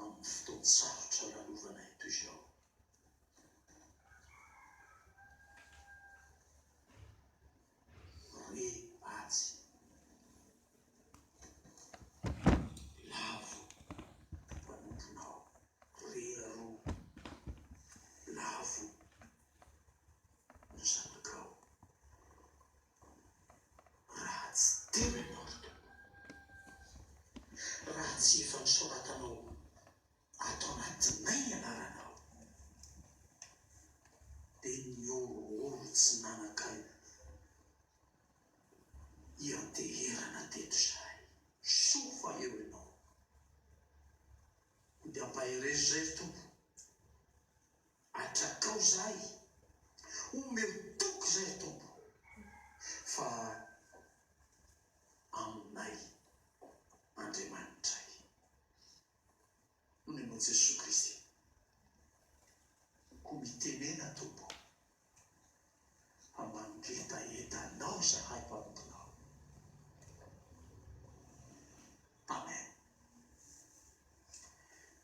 amin'ny fotoan-tsarotra lalovanay toy izao. Roe atsy, lavo ny mpanompinao, roe aroa, lavo ny zanakao. Raha tsy tena niavaka anao. Raha tsy efa nosoratanao ato anatinay ny anaranao, dia nihorohoro tsy nanan-kaina hianteherana teto izahay. Soa fa eo ianao. Dia ampaherezo izay ry Tompo. Atrakao izahay, omeo toky izahay Tompo, fa aminay Andriamanitray. Hoy ianao Jesoa Kristy, Koa mitenena Tompo, Fa mangetaheta Anao izahay Mpanomponao. Amen.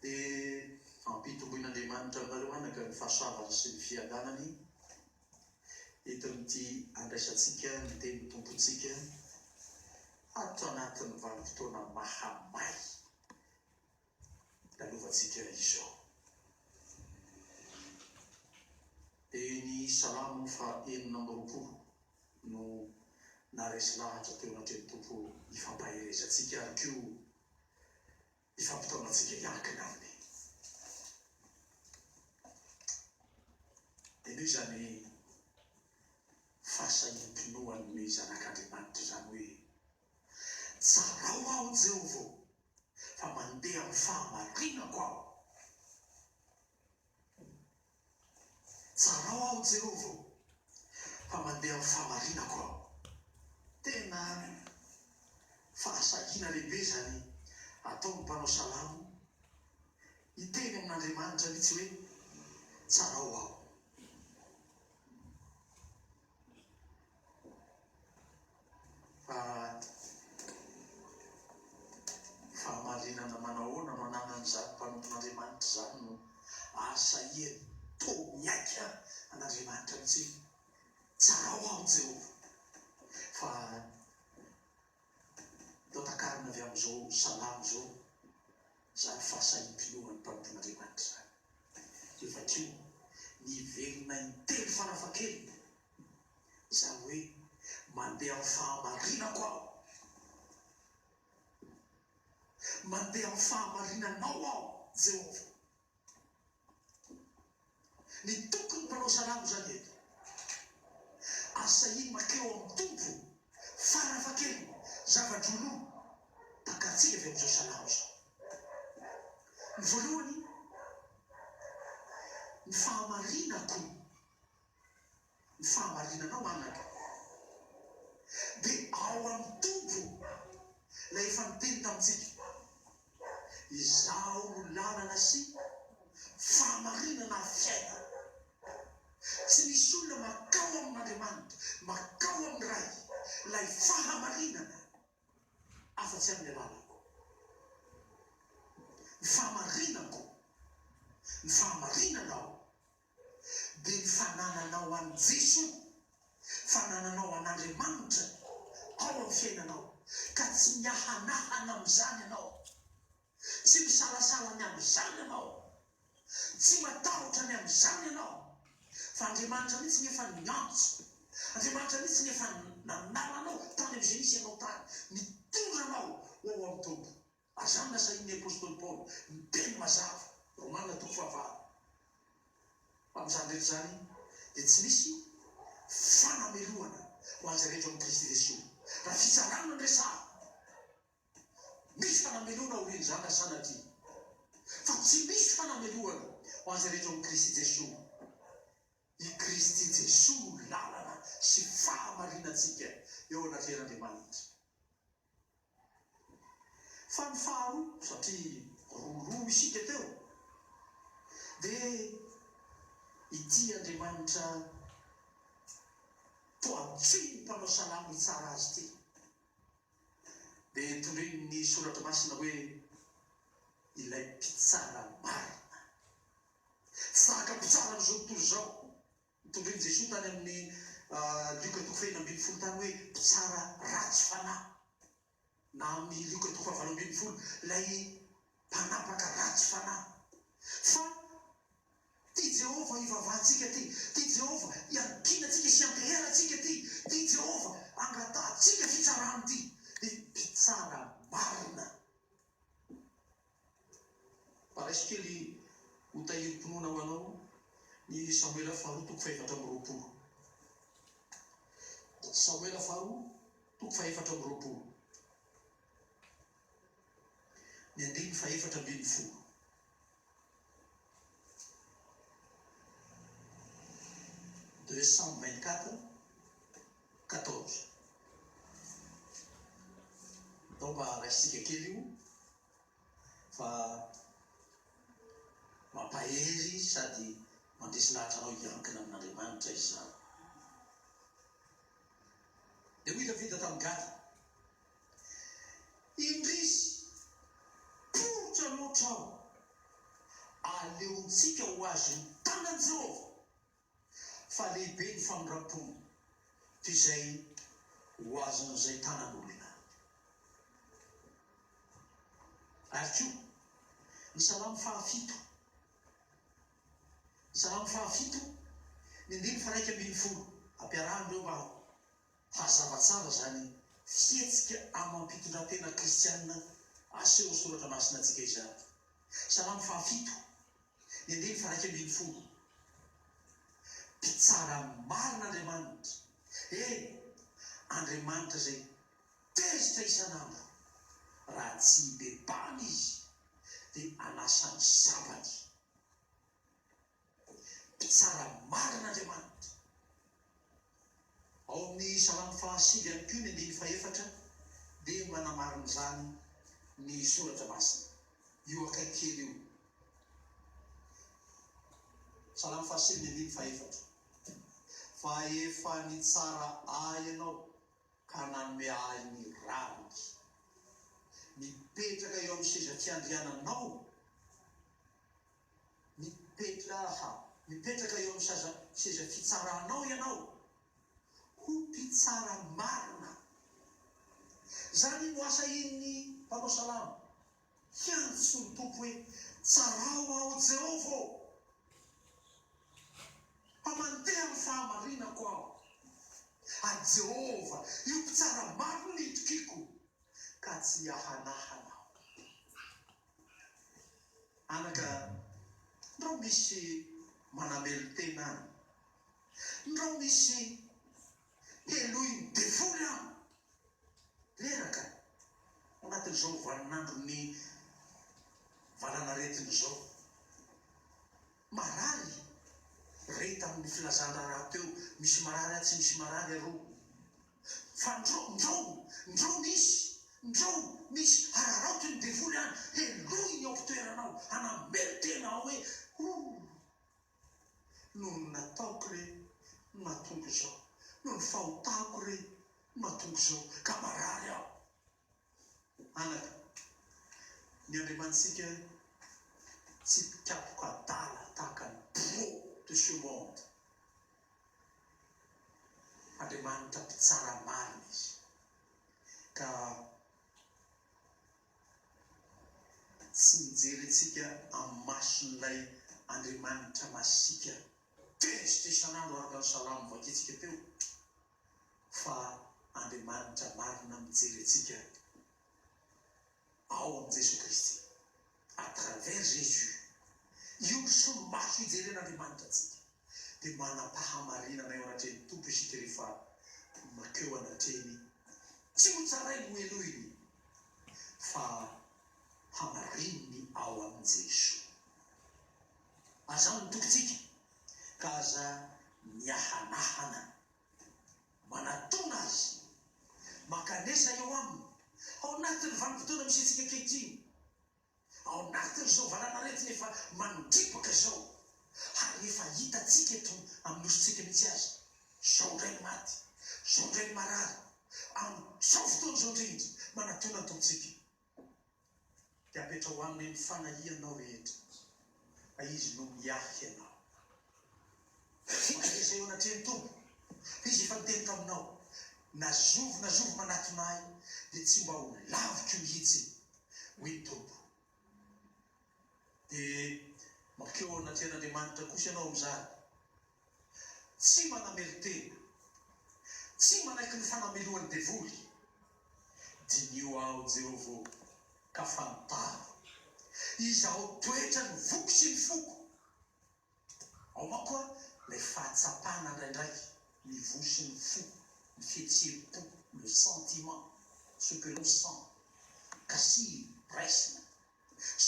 Dia ampitomboin'Andriamanitra aminareo anaka ny fahasoavany sy ny fiadanany entin'ity andraisantsika ny tenin'ny Tompontsika ato anatin'ny vanim-potoana mahamay Lalovantsika izao. Dia ny Salamo faha enina amby roapolo no naharesy lahatra teo anatrehan'ny Tompo hifampaherezantsika ary koa hifampitaona antsika hiankina Aminy. Henoy izany fahasahiam-pinoan'ny zanak'Andriamanitra izany hoe. Tsarao aho Jehovah ô, fa mandeha amin'ny fahamarinako aho. Tsarao aho Jehovah ô, fa mandeha amin'ny fahamarinako aho. Tena fahasahiana lehibe izany ataon'ny mpanao salamo, hiteny amin'Andriamanitra mihitsy hoe, Tsarao aho. Fa fahamarinana manahoana no ananan'izany mpanompon'Andriamanitra izany no azo sahihany? Toa miaiky àry an'Andriamanitra mihitsy hoe, Tsarao aho, Jehovah, fa. Atao takarana avy amin'izao salamo izao izany fahasahiam-pinoan'ny mpanompon'Andriamanitra izany. Dia vakio, Miverina intelo farafahakeliny izany hoe mandeha amin'ny fahamarinako aho. Mandeha amin'ny fahamarinanao aho, Jehovah. Ny toky ny mpanao salamo zany eto. Ary sahiny makeo amin'ny Tompo farafahakeliny zavatra ho lo takantsika avy amin'izao salamo izao. Ny voalohany, ny fahamarinako. Ny fahamarinanao anaka dia ao amin'ny Tompo Ilay efa niteny tamintsika, Izaho no lalana sy fahamarinana ary fiainana. Tsy misy olona makao amin'Andriamanitra, makao amin'ny Ray, Ilay fahamarinana, afa-tsy amin'ny alalako. Ny fahamarinako, ny fahamarinanao. Dia ny fanananao an'i Jesoa, fanananao an'Andriamanitra ao amin'ny fiainanao, ka tsy miahanahana amin'izany ianao, tsy misalasala ny amin'izany ianao, tsy matahotra ny amin'izany ianao, fa Andriamanitra mihitsy ny efa niantso, Andriamanitra mihitsy ny efa nanala anao tany amin'ny Genisy ianao tany, nitondra anao ho ao amin'ny Tompo. Aza lazain'ny apostoly Paoly ny teny mazava, Romana toko fahavalo, fa amin'izany rehetra izany dia tsy misy fanamelohana ho an'izay rehetra ao amin'i Kristy Jesoa. Raha fitsarana no resahana, misy fanamelohana aorian'izany raha sanatria, fa tsy misy fanamelohana ho an'izay rehetra ao amin'i Kristy Jesoa. I Kristy Jesoa no lalana sy fahamarinantsika eo anatrehan'Andriamanitra. Fa ny faharoa, satria roa roa isika teo, dia ity Andriamanitra toa tsy mpanao salamo hitsara azy ity. Dia tondroin'ny Soratra Masina hoe ilay Mpitsara marina. Tsy zaka mpitsara amin'izao tontolo izao. Nitondrin'i Jesoa tany amin'ny Lioka toko fahefatra ambin'ny folo tany hoe mpitsara ratsy fanahy, na amin'ny Lioka toko fahavalo ambin'ny folo, ilay mpanapaka ratsy fanahy. Fa tia Jehovah ivavahantsika ity, tia Jehovah iankinantsika sy ianteherantsika ity, tia Jehovah angatahantsika fitsarany ity, dia mpitsara marina. Mba raiso kely ho tahirim-pinoana ho anao ny Samoela faharoa toko fahefatra amby roapolo. Samoela faharoa toko fahefatra amby roapolo, ny andininy fahefatra ambin'ny folo. deux cent vingt quatre quatorze donc mba raisintsika kely io fa mampahery sady mandresy lahatra anao hiankina amin'Andriamanitra izany dia hoy Davida tamin'i Gada Indrisy, poritra loatra aho. Aleontsika ho azon'ny tanan'i Jehovah fa lehibe ny famindram-pony toy izay ho azon'izay tanan'olona. Ary koa, ny Salamo fahafito, Salamo fahafito, ny andininy faha-iraika ambin'ny folo, ampiarahinareo mba Hazava tsara izany fihetsika amam-pitondrantena kristiana aseho ao Soratra Masina antsika izany. Salamo fahafito, ny andininy faharaika ambin'ny folo. Mpitsara marina Andriamanitra, eny, Andriamanitra izay tezitra isan'andro. Raha tsy hibebahana Izy, dia hanasa ny sabany. Mpitsara marina Andriamanitra. Ao amin'ny Salamo fahasivy ihany koa ny andininy fahefatra dia manamarina izany ny Soratra Masina. Io akaiky kely io. Salamo fahasivy ny andininy fahefatra. Fa efa nitsara ahy Ianao ka nanome ahy ny rariny. Mipetraka eo amin'ny seza fiandriananao. Mipetraha, mipetraka eo amin'ny saza, seza fitsaranao ianao ho mpitsara marina. Izany no asa in'ny mpanao salamo. Hiantso ny Tompo hoe, Tsarao aho Jehovah ô! Mba mandeha amin'ny fahamarinako aho. A Jehovah, io mpitsara marina io tokiako, ka tsy hiahanahana aho. Anaka ndrao misy manamelon-tena any, ndrao misy helohin'ny devoly an! Reraka anatin'izao vaninandron'ny valanaretina izao. Marary re tamin'ny filazan-draharaha teo misy marary atsy misy marary aroa fa ndro ndro ndro misy ndro misy hararaoty ny devoly any helohiny ao mpitoerana ao hanamelo tena ao hoe oh noho ny nataoko re no nahatonga izao noho ny fahotako re no mahatonga izao ka marary aho. Anaka, ny Andriamanitsika tsy mpikapoka adala tahaka ny pro de ce monde. Andriamanitra mpitsara marina Izy, ka tsy mijery antsika amin'ny mason'ilay Andriamanitra masiaka tezitra isan'andro araka ny salamo vakintsika teo. fa Andriamanitra marina mijery antsika ao amin'i Jesoa Kristy, à travers Jésus. Io no solomaso hijeren'Andriamanitra antsika, dia manam-pahamarinana eo anatrehan'ny Tompo isika rehefa makeo anatrehiny, tsy ho tsarainy hohenoiny, fa hamarininy ao amin'i Jesoa. Aza amin'ny tokintsika, ka aza miahanahana. Manatona Azy. Mankanesa eo Aminy, ao anatin'ny vanim-potoana misy antsika ankehitriny, ao anatin'izao valan'aretina efa mandripaka izao, ary efa hitantsika eto amin'ny nosintsika mihitsy aza, izao indray ny maty, izao indray ny marary, amin'izao fotoana izao indrindra. Manatona ny Tompontsika. dia apetraho aminy ny fanahianao rehetra, fa Izy no miahy anao. Vokatra izay eo anatrehan'ny Tompo, hoy Izy efa niteny taminao, na zovy na zovy manatona Ahy, dia tsy mba ho laviko mihitsy, hoy ny Tompo. Dia mankeo ao anatrehan'Andriamanitra kosa ianao amin'izany, Tsy manamelo-tena. Tsy manaiky ny fanamelohan'ny devoly. Diniho aho, Jehovah ô, ka fantaro. Izaho toetra ny voky sy ny foko. Ao manko ary ilay fahatsapana ndraindraiky ny voa sy ny fo, ny fihetseham-po, le sentiment, ce que l'on sent, ka sy ny raisina,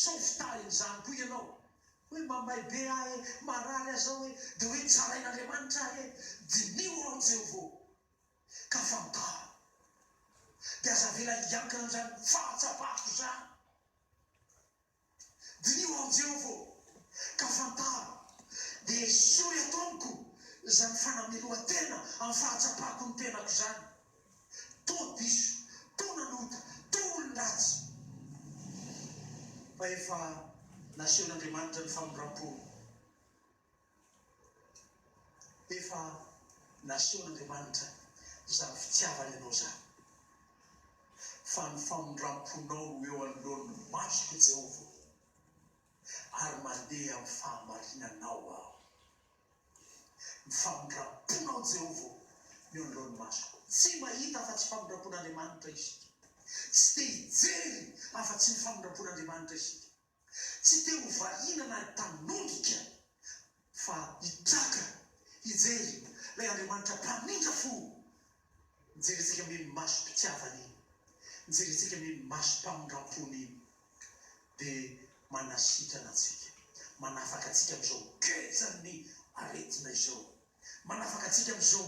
Sao fitahiny izany koa ianao. Hoe mamay be aho e, marary aza aho e, dia hoe tsarain'Andriamanitra aho e. Diniho aho Jehovah o, ka fantaro. Dia aza avela hiankina amin'izany fahatsapako izany. Diniho aho Jehovah o, ka fantaro. Dia esory ato amiko izany fanamelohan-tena amin'ny fahatsapako ny tenako izany. Toa diso, toa nanota, toa olon-dratsy. Fa efa nasehon'Andriamanitra ny famindram-pony. Efa nasehon'Andriamanitra izany fitiavany anao izany. Fa ny famindram-ponao no eo anoloan'ny masoko, Jehovah, ary mandeha amin'ny fahamarinanao aho. Ny famindram-pon' ao Jehovah no eo anoloan'ny masoko. Tsy mahita afa-tsy famindram-pon' Andriamanitra isika. Tsy te hijery afa-tsy ny famindram-pon' Andriamanitra isika. Tsy te ho valiana na hitanongika, fa hitraka hijery ilay Andriamanitra mpamindra fo. Jerentsika meno masom-pitiavana iny, jerentsika meno masom-pamindram-pony iny dia manasitrana antsika, manafaka antsika amin'izao gejan'ny aretina izao, manafaka antsika amin'izao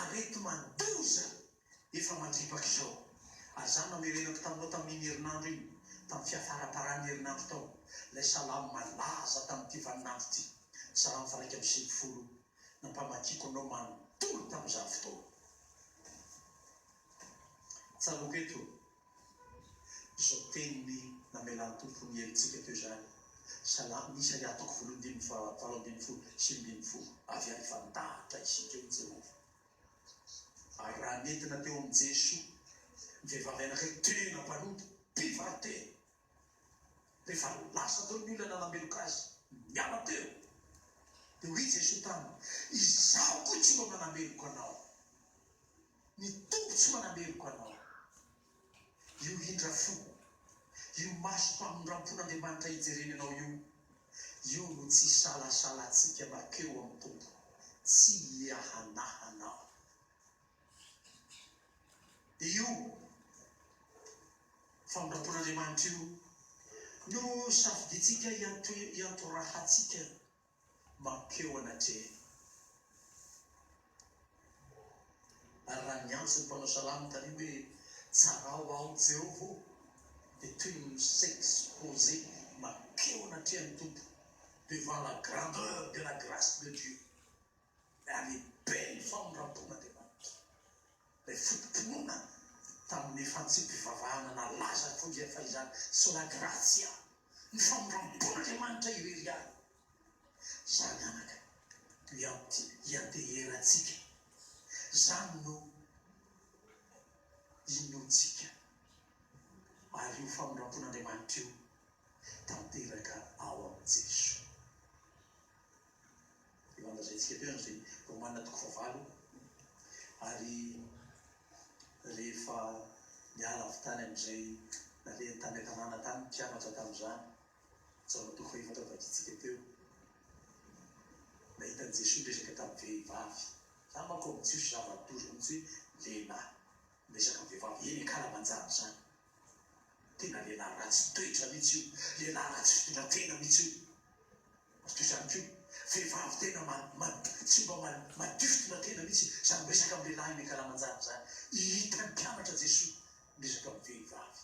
areti-mandoza efa mandripaka izao. Ary izany namerenako taminao tamin'iny herinandro iny, tamin'ny fiafaramparan'ny herinandro tao, ilay salamo malaza tamin'ity vaninandro ity, salamo faha iraika amby sivifolo nampamakiko anao manontolo tamin'izany fotoana. Tsaroako eto izao teniny namelan'ny Tompo ny helotsika teo izany, Salamo miisa ny antoko valo ambin'ny folo, valo ambin'ny folo, sivy ambin'ny folo, Avy any efa-dahatra isika, hoy Jehovah. Ary raha nentina teo amin'i Jesoa ny vehivavy anankiray tena mpanota, mpivarotena, Rehefa lasa teo ny olona nanameloka azy niala teo, dia hoy Jesoa taminy, Izaho koa tsy mba manameloka anao. Ny Tompo tsy manameloka anao. Io indra fo, io masom-pamindram-pon'Andriamanitra ijereny anao io, io no tsy isalasalantsika makeo amin'ny Tompo, tsy hiahanahanao. Io famolampolahan'Andriamanitra io no safidintsika hiantohiantorahantsika mankeo anatrehany. Ary raha niantso ny mpanao salamo taloha hoe, Tsarao aho, Jehovah ô, dia toy ny mi-s'exposer mankeo anatrehan'ny Tompo, devant la grandeur de la grâce de Dieu. Nanibe ny famindram-pon'Andriamanitra ilay foto-pinoana tamin'ny fantsipim-pivavahana nalaza toy izay fahizany, Sola gratia, ny famindram-pon'Andriamanitra irery ihany. Izany anaka no ianteherantsika, izany no inoantsika, ary io famindram-pon'Andriamanitra io tanteraka ao amin'i Jesoa. Eo an-dazaintsika teo izany dia omanina toko fahavalo ary rehefa niala avy tany amin'izay nalehany tany an-tanàna tany ny mpianatra tamin'izany, tsy ao amin'ny toko fahefatra vakintsika teo, nahita an'i Jesoa miresaka tamin'ny vehivavy. Izany manko amin'ny jiosy zava-doza mihitsy hoe lehilahy miresaka amin'ny vehivavy eny an-kalamanjana izany. Tena lehilahy ratsy toetra mihitsy io, lehilahy ratsy fitondran-tena mihitsy io. Mazotoa izany ity vehivavy tena tsy mba madifdina tena mihitsy izany miresaka amin'ny lehilahy eny an-kalamanjana izany. Hitan'ny mpianatra Jesoa miresaka amin'ny vehivavy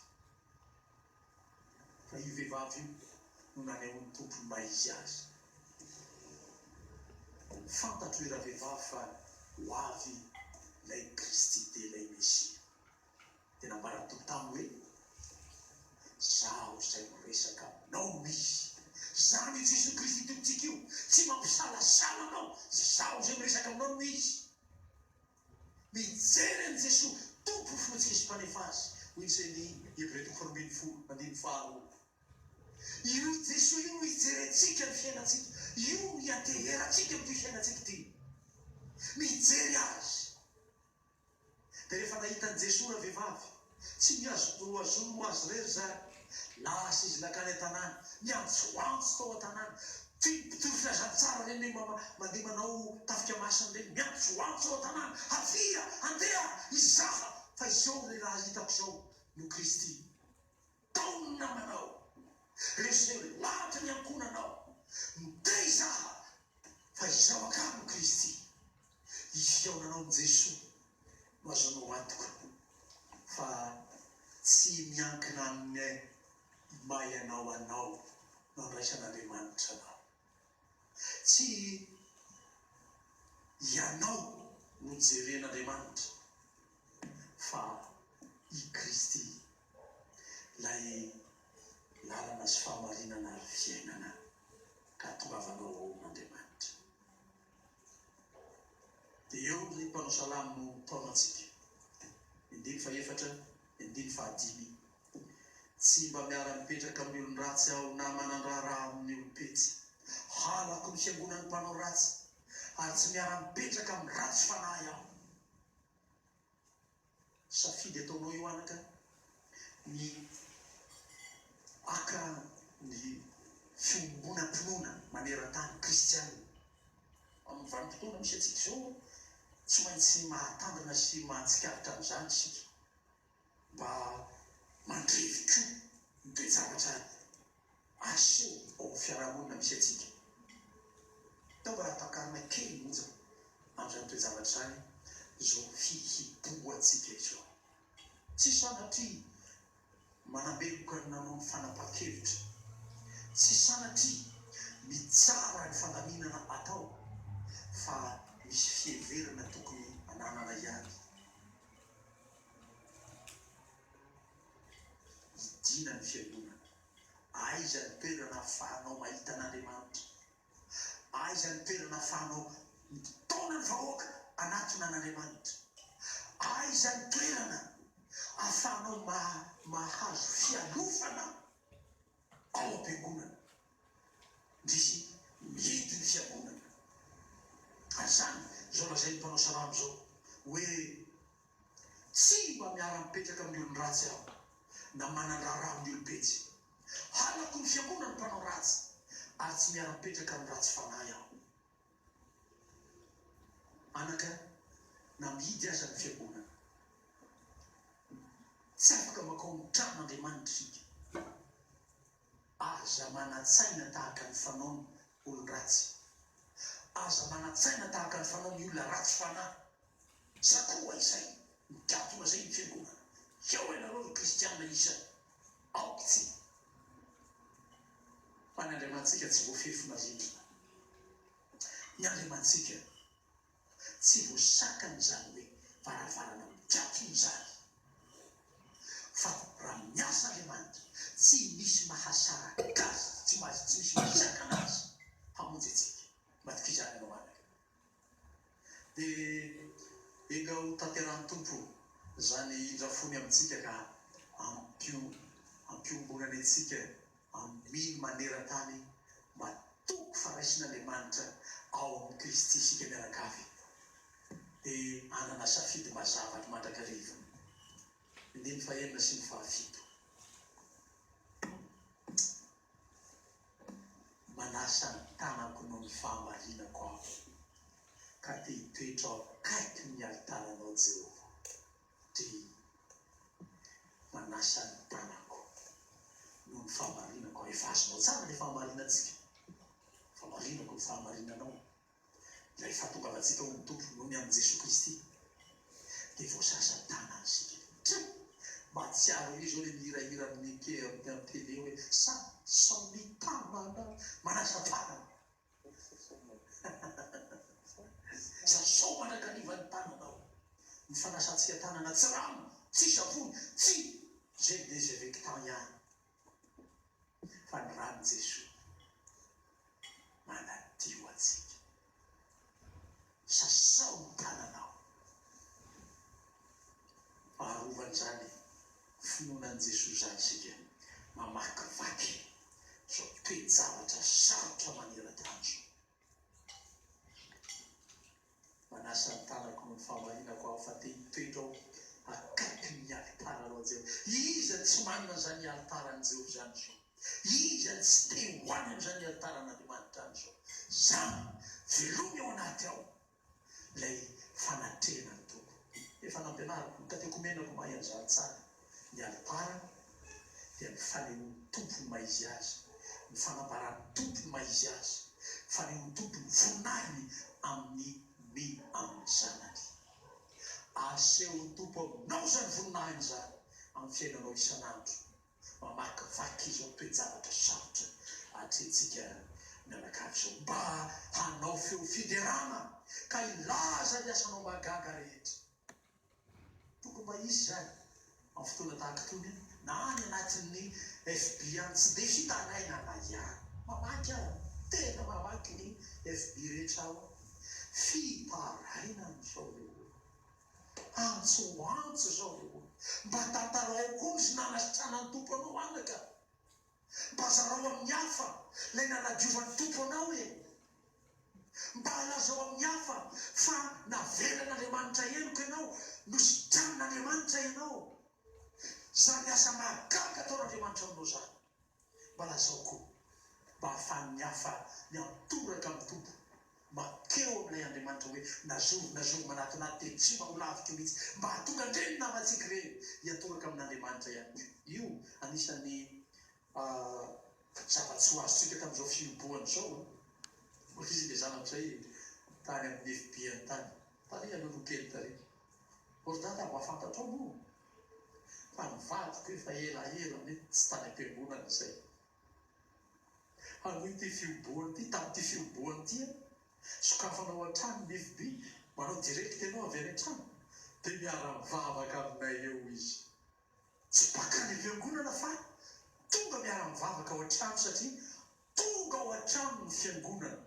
fa io vehivavy io no nanehoan'ny Tompo ny maha izy azy. Fantatro ry ravehivavy fa ho avy ilay Kristy dia ilay Mesia. Dia nambaran'ny Tompo taminy hoe, Izaho izay miresaka aminao no izy. Izany io Jesoa Kristy Tompontsika io, tsy mampisalasala anao, Izaho izay miresaka aminao no izy. Mijery an'i Jesoa Tompo ho Fontsika sy Mpanefa azy, hoy ny Ceni, Hebreo toko faharoa ambin'ny folo, andininy faharoa. Io i Jesoa io no hijerentsika ny fiainantsika, io no hianteherantsika amin'ity fiainantsika ity. Mijery Azy. Dia rehefa nahita an'i Jesoa ravehivavy, tsy nihazo nohazoany ho azy irery izany, lasa izy nankany an-tanàna, niantsoantso tao an-tanàna. Tian'ny mpitory filazantsara ireny hoe mama mandeha manao tafika masina ireny, miantsoantso ao an-tanàna, Avia, andeha, hizaha fa izao lehilahy hitako izao no Kristy. Tao ny namanao, ry izay ho ato ny ankohonanao, miteha izaho fa izaho angaha no Kristy. I fihaonanao amin'i Jesoa no ahazoanao antoka fa tsy miankina amin'ny maha ianao anao no andraisan'Andriamanitra anao. Tsy ianao no jeren'Andriamanitra fa i Kristy. Ilay lalana sy fahamarinana ary fiainana ka hatongavanao ao amin'Andriamanitra. Dia eo ny mpanao salamo no mitaona antsika, ny andininy fahefatra, ny andininy fahadimy, Tsy mba miara-mipetraka amin'ny olon-dratsy aho na manan-draharaha amin'ny olom-petsy. Halako ny fiangonan'ny mpanao ratsy ary tsy miara-mipetraka amin'ny ratsy fanahy aho. Safidy ataonao io anaka ny haka ny fiombonam-pinoana maneran-tany kristiana. Amin'ny vanim-potoana misy antsika izao, tsy maintsy mahatandrina sy mahatsikaritra an'izany isika, mba mandrevy koa ny toe-javatra Asio ao amin'ny fiarahamonina misy antsika. Tao mba ampakarina kely monja amin'izany toe-javatra izany izao fihibohantsika izao. Tsy sanatria manambeloka ny nanao ny fanapahan-kevitra, tsy sanatria mitsara ny fandaminana atao fa misy fiheverana tokony ananana ihany. Midina ny fiangonana. Aiza ny toerana ahafahanao mahita an'Andriamanitra? Aiza ny toerana ahafahanao mitaona ny vahoaka hanatona an'Andriamanitra? Aiza ny toerana ahafahanao mahazo fialofana? Ao am-piangonana, ndrisy mihidy ny fiangonana. Ary izany, izao lazain'ny mpanao salamo izao, hoe, Tsy mba miara-mipetraka amin'ny olon-dratsy aho, na manan-draharaha amin'ny olom-petsy. Halako ny fiangonan'ny mpanao ratsy, ary tsy miara-mipetraka amin'ny ratsy fanahy aho. Anaka na mihidy aza ny fiangonana. Tsy afaka mankao amin'ny trano Andriamanitra isika. Aza manan-tsaina tahaka ny fanaon'ny olon-dratsy. Aza manan-tsaina tahaka ny fanaon'ny olona ratsy fanahy. Za koa izay mitady ho azay ny fiangonana Heo ianareo ry kristiana isany aoka tsy Fa ny Andriamanitsika tsy voafefy marintina Ny Andriamanitsika tsy voasakana izany hoe varavarana mikatona izany Fa raha miasa Andriamanitra tsy misy mahasaraka azy Tsy misy mahasakana azy hamonjy antsika Maty fizarana ho anareo. Dia enga ho tanterahin'ny Tompo izany indra fony amintsika ka ampio ampiombonany antsika amin manerantany mba toko faraisin'Andriamanitra ao amin'i Kristy isika mianakavy dia hanana safidy mazava ny mandrakariva ny andininy fahenina sy ny fahafito. Manasa ny tanako noho ny fahamarinako aho, ka te hitoetra ao akaikin' ny alitaranao Jehovah. DH, Manasa ny tanako noho ny fahamarinako aho. Efa azonao tsara ilay fahamarinantsika. Fahamarinako ny fahamarinanao. Ilay fahatongavantsika ho mitovy noho ny amin'i Jesoa Kristy dia voazaza tana isika. Try! Mahatsiaro ery izao ilay mihirahira amin'ny Pierre amin'ny amin'ny tele hoe, Sa, sao mitamana manasa tanana. Sa, sao mandrakariva ny tananao. Ny fanasantsika tanana tsy rano, tsy savony, tsy. Izay dia izay avec temps ihany. Fa ny ran'i Jesoa manadio antsika. Sasao ny tananao. Arova'n'izany finoana an'i Jesoa izany isika mamakivaky izao toe-javatra sarotra maneran-tany izao. Manasa ny tanako noho ny fahamarinako aho fa te hitoetra aho akaikin' ny alitaran' ao Jeho. Iza no tsy manana an' izany alitaran' i Jeho izany izao? Iza no tsy te ho any amin' izany alitaran' Andriamanitra any izao? Izaho, veloma eo anaty ao. Ilay fanatrehana ny toko. Efa nampianariko ny katekomenako mahay an'izany tsara. Ny alitara dia ny fanehoan'ny Tompo ny maha-Izy Azy, ny fanambaran'ny Tompo ny maha-Izy Azy, ny fanehoan'ny Tompo ny voninahiny amin'ny ny amin'ny Zanany. Asehon'ny Tompo aminao izany voninahiny izany amin'ny fiainanao isan'andro. mamakivaky izao toe-javatra sarotra atrehintsika mianakavy izao mba hanao feo fiderana ka hilaza ny asanao mahagaga rehetra. Tokony mba hisy izany amin'ny fotoana tahaka itony na any anatin'ny FB any, tsy dia hitaraina na ihany. Mamaky aho, tena mamaky ny FB rehetra aho, fitarainan'izao ireo olona. Antso antso izao e o! Mba tantarao koa ny nanasitranan'ny Tompo anao anaka! Mba zarao amin'ny hafa ilay nanadiovan'ny Tompo anao e! Mba lazao amin'ny hafa fa navelan'Andriamanitra heloka ianao, nositranin'Andriamanitra ianao! Izany asa mahagaga ataon'Andriamanitra aminao izany! Mba lazao koa mba ahafahan'ny hafa miantoraka amin'ny Tompo, mankeo amin'ilay Andriamanitra hoe nazoro, nazoro manatinaty dia tsy mba ho laviko mihitsy, mba hahatonga an'ireny namantsika ireny hiantoraka amin'Andriamanitra ihany koa. Io anisan'ny zava-tsy ho azontsika tamin'izao fihibohana izao an! Hoy izy ilay zanako izay tany amin'ny FB-ny tany, Tarihy aloha aloha kely tarihy. Ordata, mba fantatrao moa? Tamin'ny vadiko efa elaela nefa tsy tany am-piangonana izay. Hanohy ity fiobohana ity, tamin'ity fiobohana ity aho. Sokafana ao an-trano ny FB, manao direct ianao avy any an-trano. Dia miara-mivavaka aminay eo izy. Tsy baka any am-piangonana fa tonga miara-mivavaka ao an-trano satria Tonga ao an-trano ny fiangonana.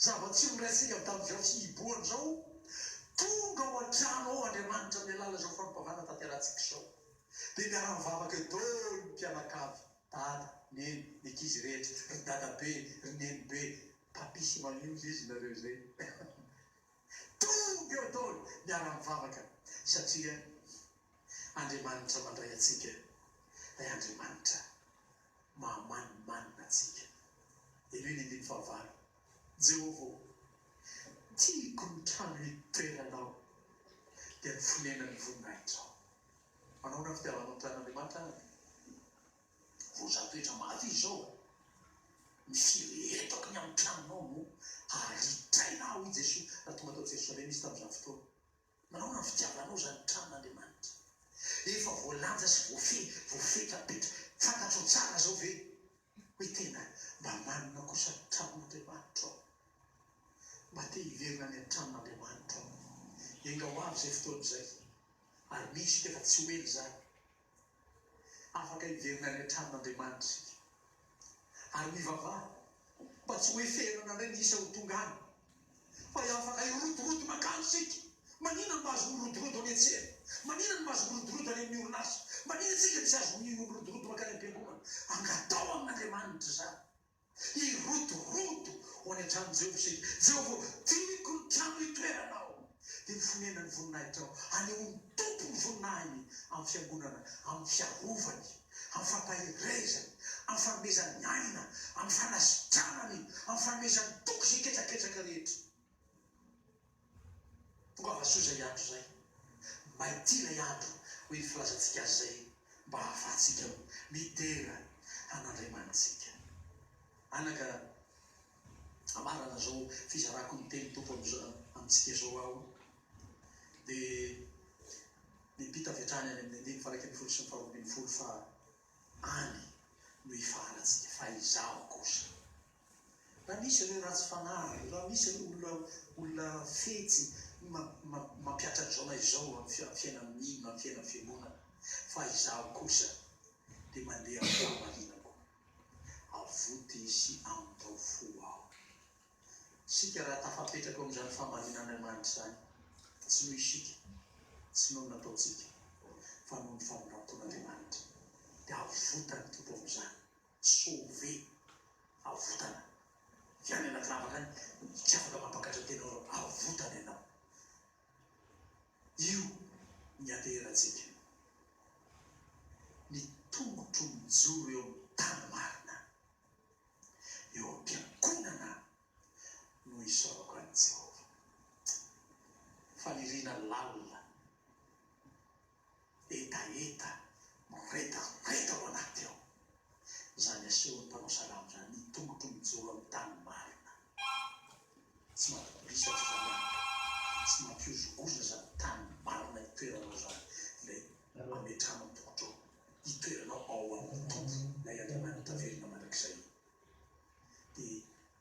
Zava-tsy miresaka avy tamin'izao sy hibohana izao, Tonga ao an-trano ao Andriamanitra amin'ny alalan' izao fanompoavana tanterantsika izao. Dia miara-mivavaka eo daholo ny mpianakavy, dada, neny, ny ankizy rehetra, ry dadabe, ry nenibe, Papi sy Mamio ve izy nareo izay? Tonga eo daholo miara mivavaka satria Andriamanitra mandray antsika Ray Andriamanitra mahamanimanina antsika Ireo ny andininy fahavalo Jehovah ô tiako ny trano hitoeranao dia ny fonenan'ny voninahitrao Manahoana ny fitiavanao ny tranon'Andriamanitra ary? Roja toetra mafy izy zao a! Mifiry etoaky ny amin'ny tranonao no aritraina aho i Jesoa raha tonga tao Jerosalema izy tamin'izany fotoana. Manaona ny fitiavanao izany tranon'Andriamanitra efa voalanja sy voafehy, voafetra petra. Fantatrao tsara zao ve hoe tena mba manana kosa ny tranon'Andriamanitro aho? Mba te hiverina any an-tranon'Andriamanitro aho. Enga ho avy izay fotoana izay ary misy tefa tsy ho ela izany. Afaka hiverina any an-tranon'Andriamanitra isika ary mivavaha mba tsy ho heferina indray ny isa ho tonga any, fa ho afaka hirotoroto mankany isika. Maninona no mahazo mirotoroto any an-tsena? Maninona no mahazo mirotoroto any amin'ny orinasa? Maninona isika no tsy azo mirotoroto mankany am-piangonana? Angataho amin'Andriamanitra izany. Hirotoroto ho any an-tranon'i Jehovah isika. Jehovah ô, tiako ny trano hitoeranao, dia ny fonenan'ny voninahitrao. Hanehoan'ny Tompo ny voninahiny amin'ny fiangonana, amin'ny fiarovany, amin'ny fampaherezany, amin'ny fanomezany aina, amin'ny fanasitranany, amin'ny fanomezany toky izay ketraketraka rehetra. Tongava soa izay andro izay. Maity ilay andro, hoy ny filazantsika azy izay mba hahafahantsika midera an'Andriamanitsika. Anaka, amarana izao fizarako ny tenin'ny Tompo amintsika izao aho, dia miampita avy hatrany any amin'ny andininy faha-iraika ambin'ny folo sy ny faharoa ambin'ny folo fa any no ifahalantsika, fa izaho kosa. Raha misy ireo ratsy fanahy, raha misy ireo olona olona fetsy mampiatra an'izao na izao amin'ny fiainan'ny mino na ny fiainan'ny fiangonana, fa izaho kosa dia mandeha amin'ny fahamarinako, avoty sy amin-dao fo aho. Isika raha tafapetraka eo amin'izany fahamarinan'Andriamanitra izany, tsy noho isika, tsy noho ny nataontsika, fa noho ny fanombanton'Andriamanitra, dia avotan'ny Tompo amin'izany. Sauver, avotana, Tsy any anaty lavaka any, tsy afaka mampakatra tenora, avotana ianao. Io ny ateherantsika. Ny tongotro mijoro eo amin'ny tany marina, eo am-piangonana no isaorako an'i Jehovah. Faniriana lalina. hetaheta miredareda ao anaty ao. Izany asehon'ny mpanao salamo izany ny tongotro mijoro amin'ny tany marina. Tsy mampibolisaka izany an! Tsy mampihozohozo izany tany marina itoeranao izany, ilay ametrahanao ny tongotrao, itoeranao ao amin'ny Tompo, ilay Andriamanitra taverina mandrakizay. Dia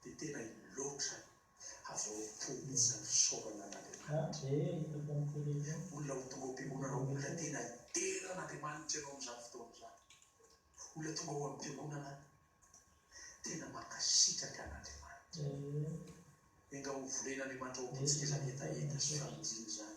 dia tena loatra ny havoam-po mihitsy ny fisaorana an'Andriamanitra. Olona ho tonga ho mpiangonana ho olona tena dera an'Andriamanitra ianao amin'izany fotoana izany. Olona tonga ho am-piangonana tena mankasitraka an'Andriamanitra. Enga ho volen'Andriamanitra ao am-pontsika izany hetaheta sy famonjiana izany.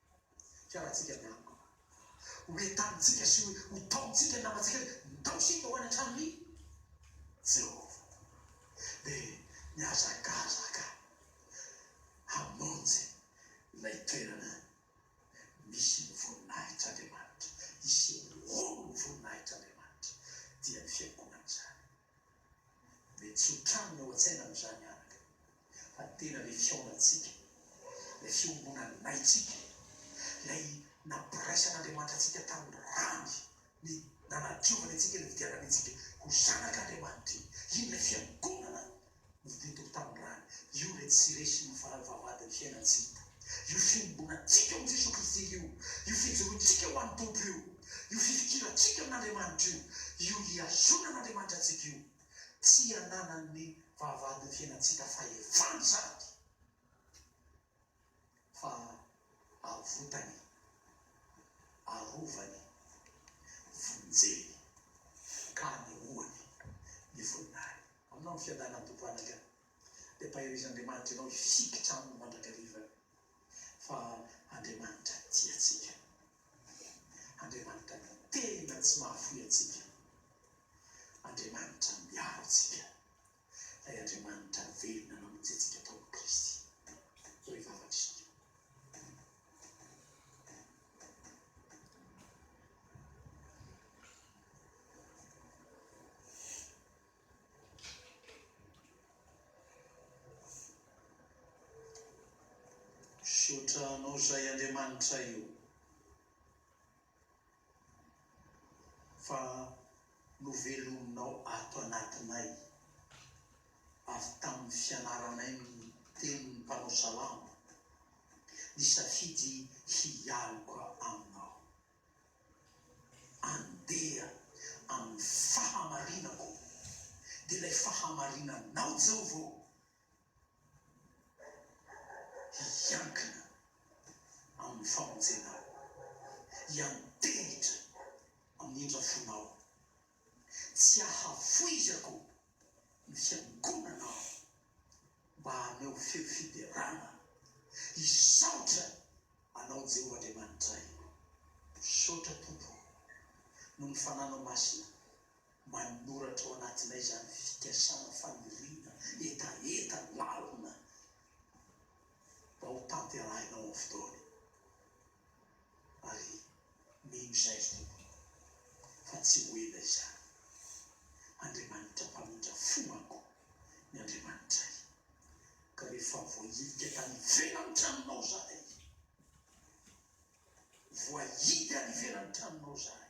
Fialantsika ny amiko. Ho entanintsika sy ho taomintsika ny namantsika hoe ndao isika ho any an-tranon' i Jehovah. Dia nihazakazaka hamonjy ilay toerana misy ny voninahitr' Andriamanitra, hiseho ho ny voninahitr' Andriamanitra, dia ny fiangonana izany. Mety tsy ho trano ny ao an-tsaina amin'izany anaka, fa tena ilay fihaonantsika, ilay fiombonanaitsika, ilay nampiraisan'Andriamanitra antsika tamin'ny rany, ny nanadiovany antsika, nividianany antsika ho zanak'Andriamanitra iny. Iny ilay fiangonana. Ny teto amin'ny tanindrazana, io re tsy resy ny fahefa-vadin'ny fiainan'i Jida, io fiombonantsika ao amin'i Jesoa Kristy io, io fijoroantsika ho an'ny Tompo io, io fifikirantsika amin'Andriamanitra io, io hihazona an'Andriamanitra antsika io. Tsy ananan'ny fahavadin'ny fiainantsika fahefana izany. Fa avotany, arovany, vonjeny, ka anehoany ny voninahiny. Aminao ny fiadanan'ny Tompo anaka, dia ampaheriz'Andriamanitra ianao hifikitra aminy mandrakariva, fa Andriamanitra tiantsika, Andriamanitra tena tsy mahafoy antsika, Andriamanitra miaro antsika Ray Andriamanitra velona namonjy antsika tao amin'i Kristy. Ray Vavak'Isika. Misaotra Anao Ray Andriamanitra io. Fa novelominao ato anatinay, avy tamin'ny fianaranay ny tenin'ny mpanao salamo, nisafidy hialoka Aminao. Andeha amin'ny fahamarinako, dia ilay fahamarinanao Jehovah ô! hiankina amin'ny famonjenao, hiantehitra amin'ny indrafonao, tsy ahavoizako ny fiangonanao mba haneho feo fiderana, hisaotra Anao Jeho Andriamanitray. Misaotra Tompo o, noho ny Fananao Masina Manoratra ao anatinay izany fikasana faniriana hetaheta lalina mba ho tanterahina ao amin'ny fotoany ary mino izay ry Tompo fa tsy ho ela izany. Andriamanitra mpamindra fo manko ny Andriamanitray ka rehefa voahilika tany ivelan'ny tranonao izahay, voahidy any ivelan'ny tranonao izahay,